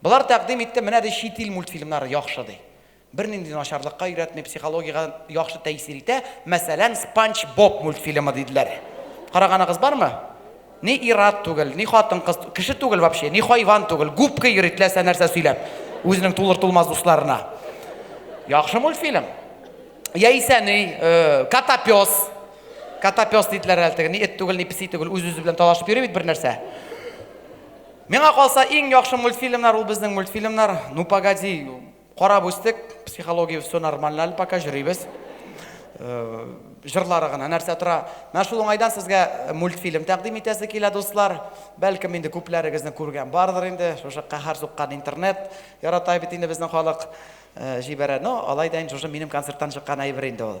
Болар тәкъдим итте, менә ди чит ил мультфильмнары яхшы ди. Бернинди начарлыкка өйрәтми, психологиягә яхшы тәэсир итә, мәсәлән, Спанч Боб мультфильмы, диделәр. Караганыгыз бармы? Ни ир-ат түгел, ни хатын-кыз, кеше түгел вообще, ни хайван түгел, губка йөри теләсә нәрсә сөйләп, үзенең тулыр-тулмас дусларына. Яхшы мультфильм. Яисә ни, Котопес. Котопес диделәр әле теге, ни эт түгел, ни песи түгел, үз-үзе белән талашып йөри бит бернәрсә. Миңа калса, иң яхшы мультфильмнар ул безнең мультфильмнар. Ну погоди, карап үстек, психология все нормально әле пока җөрибез. Җырлары гына нәрсә тора. Менә шул уңайдан сезгә мультфильм тәкъдим итәсе килә, дуслар. Бәлкем инде күпләрегезне күргән бардыр инде, шушы каһәр суккан интернет ярата бит инде безнең халык, җибәрә. Ну, алай да инде шушы минем концерттан чыккан әйбер инде ул.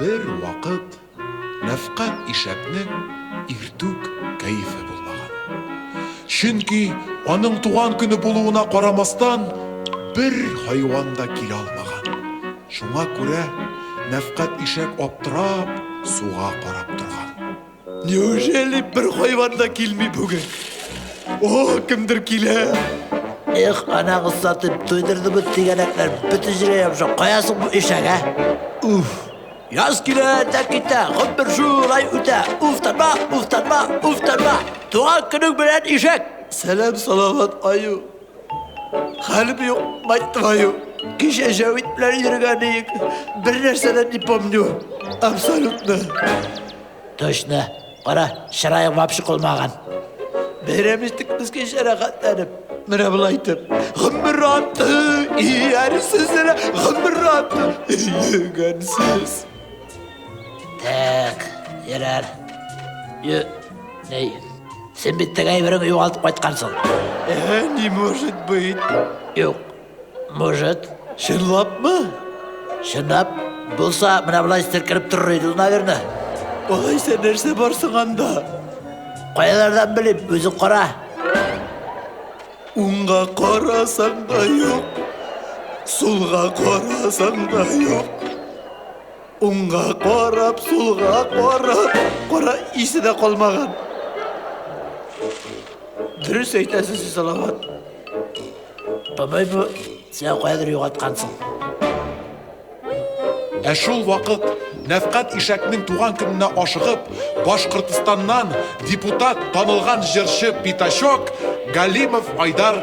Бер вакыт Нәфкать ишәкнең иртүк кәефе булмаган. Чөнки аның туган көне булуына карамастан, бер хайван да килә алмаган. Шуңа күрә Нәфкать ишәк аптырап, суга карап торган. Неужели бер хайван да килми бүген? О, кемдер килә. Эх, ана кызсатып туйдырды бу тигәнәкләр. Бөтен җирә ябыша. Каясың бу ишәк, ә? Уф. Яз килә дә китә, гомер шулай үтә. Уф, тарма, уф, тарма, уф, тарма. Туган көнең белән ишәк. Сәлам, салават, аю. Хәлем юк, мать твою. Кичә Җәвит белән йөргән иек. Бер нәрсә дә не помню. Абсолютно. Точно. Кара, чыраең вообще калмаган. Бәйрәм иттек без кичә рәхәтләнеп. Менә болай итеп. Гомер аты, иярсез генә гомер аты, йөгәнсез. Так, ярар. Йө, Әй, син бит теге әйбереңне югалтып кайткансың. Э, не может быть. Юк. Может. Чынлапмы? Чынлап булса, менә болай стеркереп торыр иде, наверное. Алайса нәрсә бар соң анда? Каялардан белим, үзең кара. Уңга карасаң да юк, сулга карасаң да юк. Уңга карап, сулга карап, кара исе дә калмаган. Дөрес әйтәсез, сез Салават. Бабай бу сиңа кайдыр югаткансың. Ә шул вакыт Нәфкат ишәкнең туган көненә ашыгып, Башкортстаннан депутат, танылган җырчы Питачок Галимов Айдар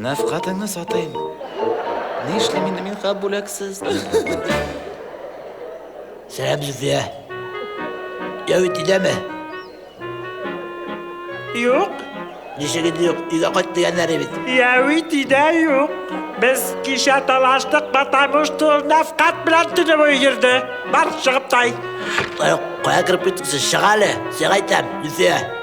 Нәфкатеңне сатыйм. Нишлим инде мин хат бүләксез? Сәлам, Зөфия. Яу итидәме? Юк. Ничек инде юк? Өйгә кайт дигәннәре бит. Яу итидә юк. Без кичә талаштык, потому что нәфкат белән төне буе йөрде. Бар, чыгып тай. Кая кереп киттең сез? Чыга әле. Сиңа әйтәм, Зөфия.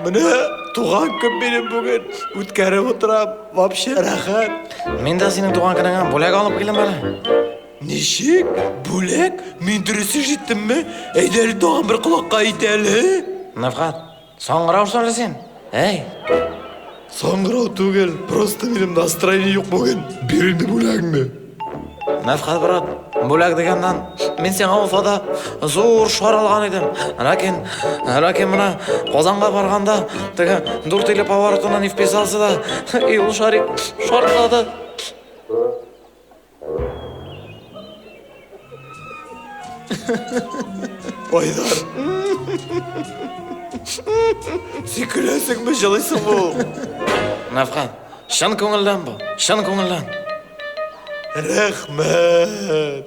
Менә туган көн минем бүген үткәреп утырам, вообще рәхәт. Мин дә синең туган көнеңә бүләк алып килдем әле. Ничек? Бүләк? Мин дөрес ишеттемме? Әйдә әле тагын бер колакка әйт әле. Нәфхат, соңгырау сорыйсың. Әй! Саңгырау түгел, просто минем настроение юк бүген. Бир инде бүләгеңне. Мәфхәт брат, бүләк дигәннән, мин сиңа Уфада зур шар алган идем. Ләкин, ләкин менә Казанга барганда, теге дүрт иле поворотына не вписался да, и ул шарик шартлады. Айдар. Син көләсеңме, җылыйсыңмы ул? Навхан, чын күңелдән бу, чын күңелдән. Рәхмәт.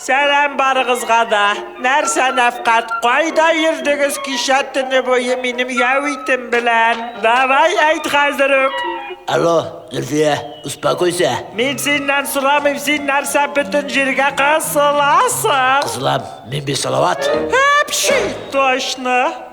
Сәлам барыгызга да! Нәрсә нәфкать, кайда йөрдегез кичә төне буе минем яу итем белән? Давай әйт хәзер үк! Алло, Зөлфия, успокойся! Мин синнән сорамыйм, син нәрсә бөтен җиргә кысыласың? Кысылам, мин бит Салават! Әпши! Точно!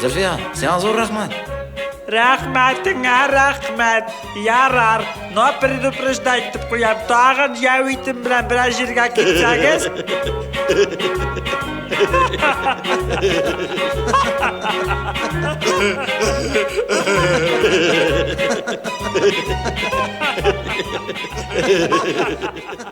Зөлфия, сиңа зур рәхмәт. Рәхмәтеңә рәхмәт. Ярар, но предупреждать итеп куям, тагын яу итем белән бераз җиргә китсәгез.